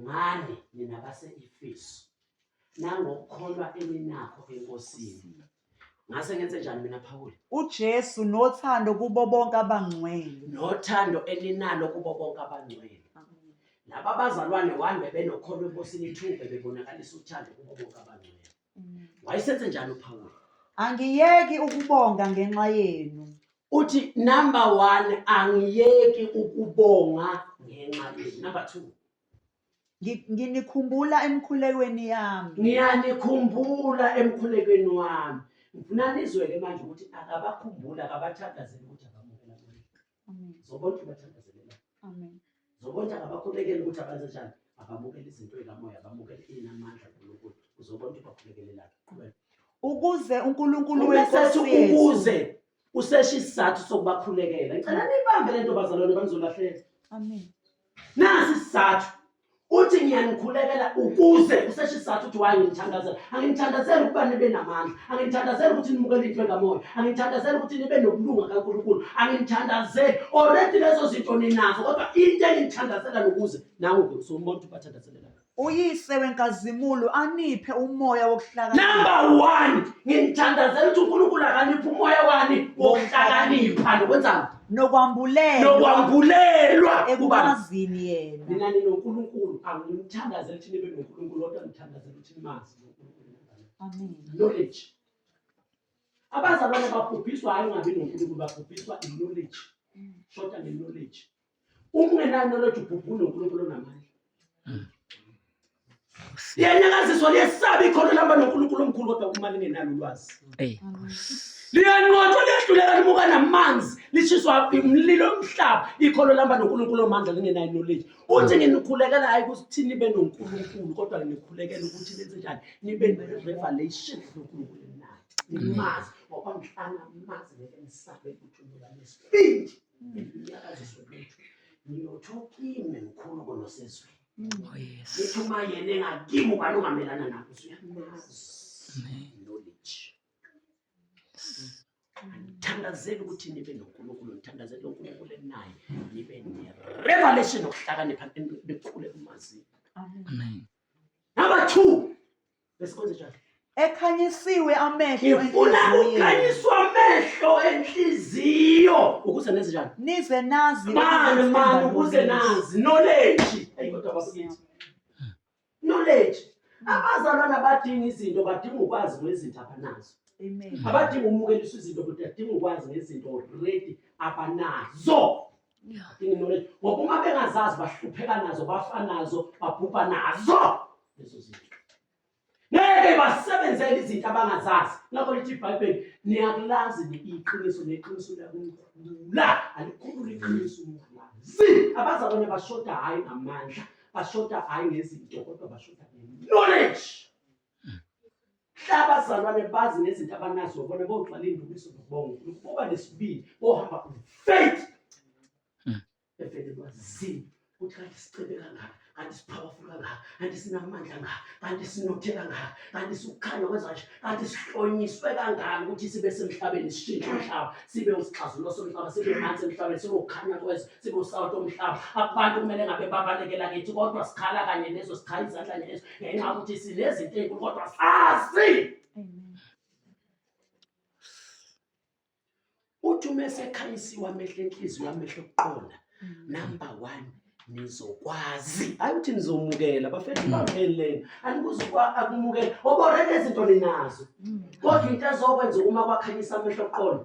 ngani nina base-efesu nangokukholwa eninakho enkosini ngase ngenze njani mina phawule uJesu nothando kubo bonke abangcwele nothando eninalo kubo bonke abangcwele laba bazalwane one bebenokholo enkosini two bebonakalisa uthando kubo bonke abangcwele wayesenze njani uphawula angiyeki ukubonga ngenxa yenu uthi number one angiyeki ukubonga ngenxa yenu number two Ngi- nginikhumbula emkhulekweni yami ngiyanikhumbula emkhulekweni wami ngifuna nizwele manje ukuthi akabakhumbuli akabathakazeli ukuthi abamukela kuye. zobonke bathandazelelane zobonke abakhulekela ukuthi abenze njani abamukele izinto ey'kamoya abamukele inamandla nkulunkulu uzobonke bakhulekelelange qhubeka ukuze unkulunkulu wenkosi ukuze useshe isizathu sokubakhulekela ngicela niyibambe le nto bazalwane bangizolahleka amen nasi isizathu uthi ngiyanikhulekela ukuze usesho isizathu ukuthi waye ngimthandazela angimthandazeli ukuba nibe namandla angimthandazeli ukuthi nimukele into engamoya angimthandazeli ukuthi nibe nokulunga kankulunkulu angimthandazeli oredi lezo zinto ninazo kodwa into engimthandazela nokuze nangu-ke usumbona ukuthi ubathandazelela uyise wenkazimulo aniphe umoya wokuhlakanipha number one ngimthandazela ukuthi unkulunkulu akaniphe umoya wani wokuhlakanipha nokwenzani nokwambulelwa nokwambulelwa ekumazini yena mina ninonkulunkulu angimthandazeli ukuthi nibe nonkulunkulu kodwa ngithandazela ukuthi nimazi knowledge abazalwane babhubhiswa hayi ungabi nonkulunkulu babhubhiswa iknowledge shoda nge-knowledge uma ungenaknowledge ubhubha unonkulunkulu onamandla Liyanyakaziswa liyesaba ikhono lihamba noNkulunkulu omkhulu kodwa uma lingenalo ulwazi. Liyanqotshwa liyahluleka limuka namanzi lishiswa umlilo omhlaba ikhono lihamba noNkulunkulu omandla lingenayo knowledge. Uthi nginikhulekela hayi ukuthi nibe noNkulunkulu kodwa nginikhulekela ukuthi nenze njani nibe ne-revelation yoNkulunkulu enayo. Nimazi ngoba ngihlala mazi ngeke ngisabe ukuthi unika nesibindi. Ngiyakaziswa ukuthi ngiyothoka ime mkhulu konosezweni. Oh, Ngithi uma yena engakimi ubani ongamelana nabo knowledge ngithandazela ukuthi nibe nonkulunkulu ngithandazela unkulunkulu enaye nibe ne-revelation okuhlakanipha nikhule kumazini number two besikwenze njani ekhanyisiwe amehlo ngifuna enhliziyweni. ukhanyiswa amehlo enhliziyo ukuze nenze njani nize nazi mani ukuthi mani themba ukuze lobisi. nazi knowledge ayi kodwa bakithi knowledge abazalwana badinga izinto badinga ukwazi ngezinto abanazo Amen. abadinga umukeliswa izinto kodwa adinga ukwazi ngezinto already abanazo Yini knowledge ngoba uma bengazazi bahlupheka nazo bafa nazo babhubha nazo lezo zinto ngeke basebenzele izinto abangazazi ngakho lithi ibhayibheli niyakulazi iqiniso neqiniso liyakukhulula alikhulula iqiniso umalazi abazalwane bashoda hhayi ngamandla bashoda hhayi ngezinto kodwa bashoda nge-knowledge abazalwane bazi nezinto abanazo bona bogcwala indumiso nobongo ukuba nesibili bohamba faith hmm. evele lwazini ukuthi kanti sicebe kangaka kanti sipowerful kangaka kanti sinamandla ngaka kanti sinothe kangaka kanti siwukhanya kwezanje kanti sihlonyiswe kangaka ukuthi sibe semhlabeni sishintshe umhlaba sibe usixazululo somhlaba sibe manzi emhlabeni sibe ukhanya kwezwe singusawuthi omhlaba abantu kumele ngabe babalekela kithi kodwa sikhala kanye nezo sikhala izandla ngezo ngenxa yokuthi sinezinto ezinkulu kodwa sazi uthi uma esekhanyisiwe amehlo enhliziyo amehlo okuqonda mm. number one nizokwazi hayi ukuthi nizomukela bafethu mm. bamheleni anikuzukwa akumukela oboreke izinto ninazo mm. kodwa into ezokwenza uma kwakhanyisa amehlo okuqonda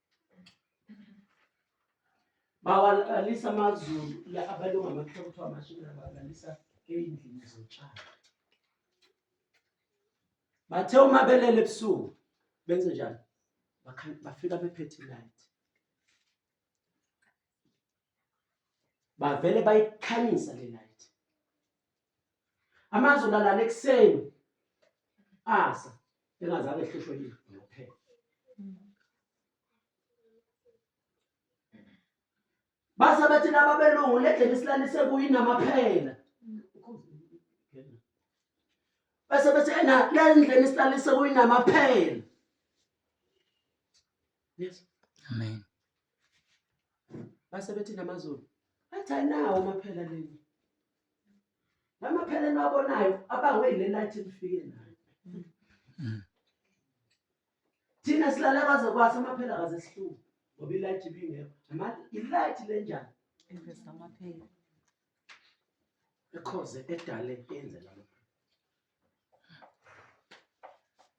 bawalalisa amazulu la abalunga amakhaya kuthiwa amashumi abalalisa ey'ndlini zotshani bathe uma belele ebusuku benze njani bafika bephethe ilight bavele bayikhanyisa le light Amazi ulalala ekuseni asa engazange ehlushwe yini ngophela. Base bathi laba belungu ledleni silalise kuyinamaphela. Base bathi ena lendleni silalise kuyinamaphela. Yes. Amen. Base bathi namaZulu. Athi ayinawo amaphela leli. Ngamaphela enabonayo abangwe ile light elifike nayo. Thina silala kwaze kwasa amaphela kaze sihluke ngoba ilight ibingekho. Manje ilight lenjani? Invest amaphela. Ekhoze edale yenze lama.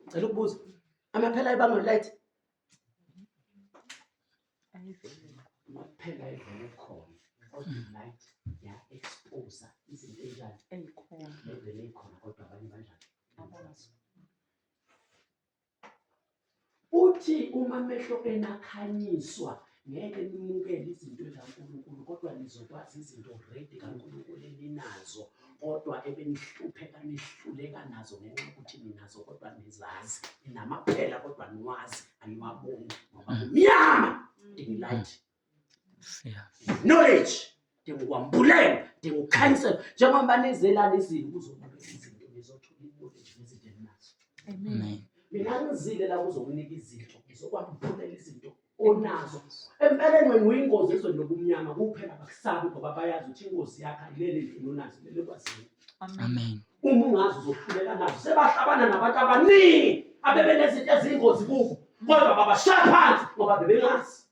Ngicela ukubuza. Amaphela ayibanga light. Amaphela ayivele khona. Kodwa light ya expose izinto enjani? Ezikhona. Levele ikhona kodwa abanye banjani? Abanye. Uthi uma amehlo enu akhanyiswa ngeke nimukele izinto zikaNkulunkulu kodwa nizokwazi izinto already kaNkulunkulu eninazo kodwa ebenihlupheka nihluleka nazo ngenxa yokuthi ninazo kodwa nizazi ninamaphela kodwa niwazi aniwaboni ngoba kumnyama dingilight knowledge dinga ukwambulela dinga ukukhanyisela njengoba banezelana izini kuzokunika izinto ngizothola i-knowledge ngezinto endinazo mina ngizile la kuzokunika izinto ngizokwambulela izinto onazo empeleni wena uyingozi ezweni lobumnyama kuphela bakusabi ngoba bayazi ukuthi ingozi yakho ayilele endlini onazo lele kwazini amen uma ungazi uzohluleka nazo sebahlabana nabantu abaningi abebenezinto ezingozi kubo kodwa babashaya phansi ngoba bebengazi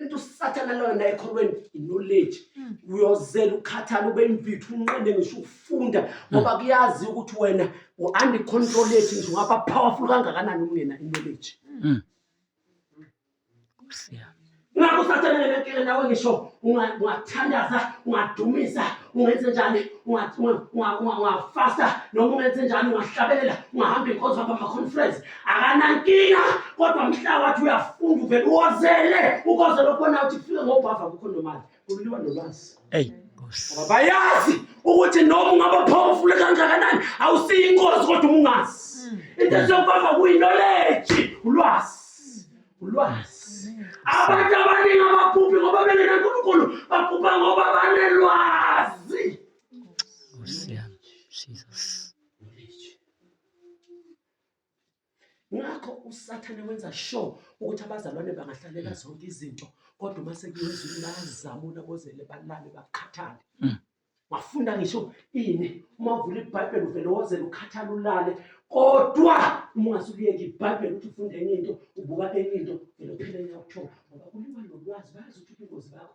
Into usathana loyo naye ekholweni knowledge. Hmm. Uyozela ukhathala ube imvithu unqende ngisho ukufunda hmm. ngoba kuyazi ukuthi wena uandi control yethu nje ungaba powerful kangakanani ungena knowledge. Hmm. Siya. Ngakho usathana ngenakile nawe ngisho ungathandaza ungadumisa ungenze njani ungafasta noma ungenze njani ungahlabelela ungahamba inkonzo hamba ama-conference akanankinga kodwa mhla wathi uyafunda uvele uwozele ukozele ukubona ukuthi kufike ngobhava kukho nomali kuliwa nolwazi eyi bayazi ukuthi noma ungaba powerful kangakanani awusiyi inkozi kodwa umungazi hmm. into esiyokubava kuyinoleji ulwazi ulwazi abantu abaningi abaphuphi ngoba bengenankulunkulu baphupha ngoba banelwazi ngakho usathane wenza sure ukuthi abazalwane bangahlalela zonke izinto kodwa uma sekuyezulu bayazamula kozele balale bakhathale mm. wafunda ngisho ini uma uvula ibhayibheli uvele wozele ukhathala ulale kodwa uma ungasukuyeki ibhayibheli ukuthi ufunde enye into ubuka enye into vele uphele nyakuthiwa ngoba kuliwa nolwazi bazi ukuthi ubungozi bakho